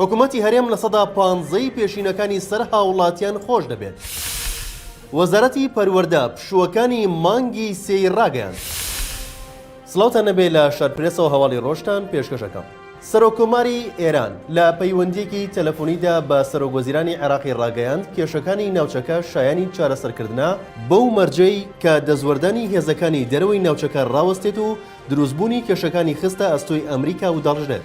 حکومەتی هەرێم لە سەدا پانزە ی پێشینەکانی سەر هاوڵاتیان خۆش دەبێت. وەزارەتی پەروەردە پشووەکانی مانگی سێ ی راگەیاند. سڵاوتان نەبێ لە شار پرێسەوە هەواڵی ڕۆژتان پێشکەش ئەکەم. سەرۆک کۆماری ئێران لە پەیوەندییەکی تەلەفۆنیدا بە سەرۆک وەزیرانی عێراقی ڕاگەیاند کێشەکانی ناوچەکە شایانی چارەسەر کردنە بەو مەرجەی کە دەستوەردانی هێزەکانی دەرەوەی ناوچەکە ڕاوەستێت و دروستبوونی کێشەکانی خستە ئەستۆی ئەمریکا ودەڕژێت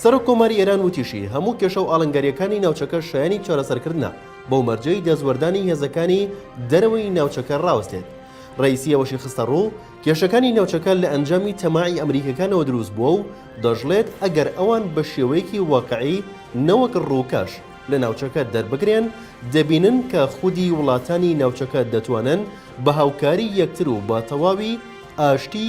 سەرۆک کۆماری ئێران وتیشی، هەموو کێشە و ئاڵنگارییەکانی ناوچەکە شایانی چارەسەرکردنە، بەو مەرجەی دەستوەردانی هێزەکانی دەرەوەی ناوچەکە ڕاوەستێت. ڕەئیسی ئەوەشی خستەڕوو، کێشەکانی ناوچەکە لە ئەنجامی تەماعی ئەمریکییەکانەوە دروست بووە و دەشڵێت، ئەگەر ئەوان بە شێوەیەکی واقعی نەوەک ڕووکەش لە ناوچەکە دەربکرێن، دەبینن کە خودی وڵاتانی ناوچەکە دەتوانن بە هاوکاری یەکتر و بە تەواوی ئاشتی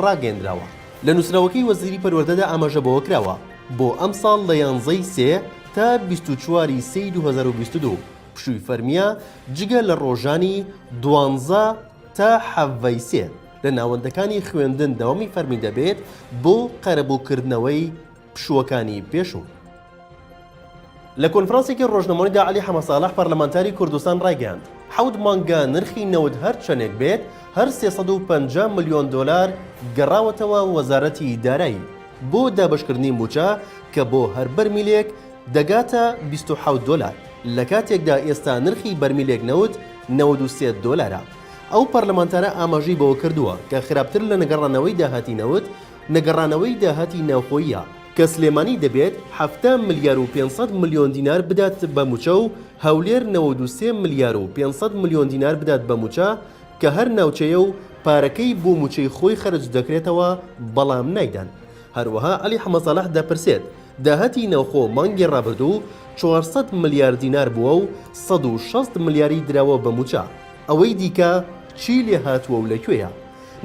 ڕاگەیەندراوە لە نووسراوەکەی وەزیری پەروەردەدا ئاماژە بەوە کراوە، بۆ ئەمساڵ لە یانزەی سێ تا بیست و چوار ی سێی دوو هەزار و بیست و دوو پشووی فەرمییە جگە لە ڕۆژانی دوانزە تا حەڤە ی سێ لە ناوەندەکانی خوێندن دەوامی فەرمی دەبێت بۆ قەرەبووکردنەوەی پشووەکانی پێشوو. لە کۆنفرانسێکی ڕۆژنەمەوەیدا عەلی حەمەساڵح پەرلەمانتاری کوردستان ڕایگەیاند، حەوت مانگە نرخی نەوت هەر چەندێک بێت هەر سێ سەد و پەنجا ملیۆن دۆلار گەڕاوەتەوە وەزارەتی دارایی بۆ دابەشکردنی مووچە کە بۆ هەر بەرمیلێک دەگاتە بیست و حەوت دۆلار لەکاتێکدا ئێستا نرخی بەرمیلێک نەوت نەوەد و سێ دۆلارە. ئەو پەرلەمانتارە ئاماژەی بەوەکردووە کە خراپتر لە نەگەڕانەوەی داهاتی نەوت، نەگەڕانەوەی داهاتی ناوخۆییە. کە سلێمانی دەبێت حەفتا ملیار و پێنج سەد ملیۆن دینار بدات بە مووچە و هەولێر نەوەد و سێ ملیار و پێنج سەد ملیۆن دینار بدات بە مووچە کە هەر ناوچەیە و پارەکەی بۆ مووچەی خۆی خەرج دەکرێتەوە بەڵام نایدەن هەروەها عەلی حەمەساڵح دەپرسێت داهاتی ناوخۆ مانگی ڕابردوو چوار سەد ملیار دینار بووە و سەد و شەست ملیاری دراوە بە مووچە ئەوەی دیکە چی لێهاتووە و لە کوێیە؟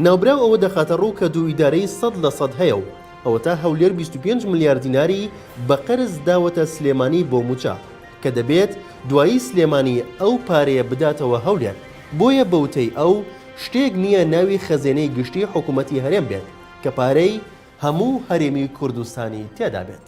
ناوبراو ئەوە دەخاتە ڕوو کە دوو ئیدارەی سەد لە سەد هەیە و ئەوەتا هەولێر بیست و پێنج ملیار دیناری بە قەرز داوەتە سلێمانی بۆ مووچە، کە دەبێت دوایی سلێمانی ئەو پارەیە بداتەوە هەولێر، بۆیە بە وتەی ئەو شتێک نییە ناوی خەزێنەی گشتی حکوومەتی هەرێم بێت کە پارەی هەموو هەرێمی کوردستانی تێدا بێت.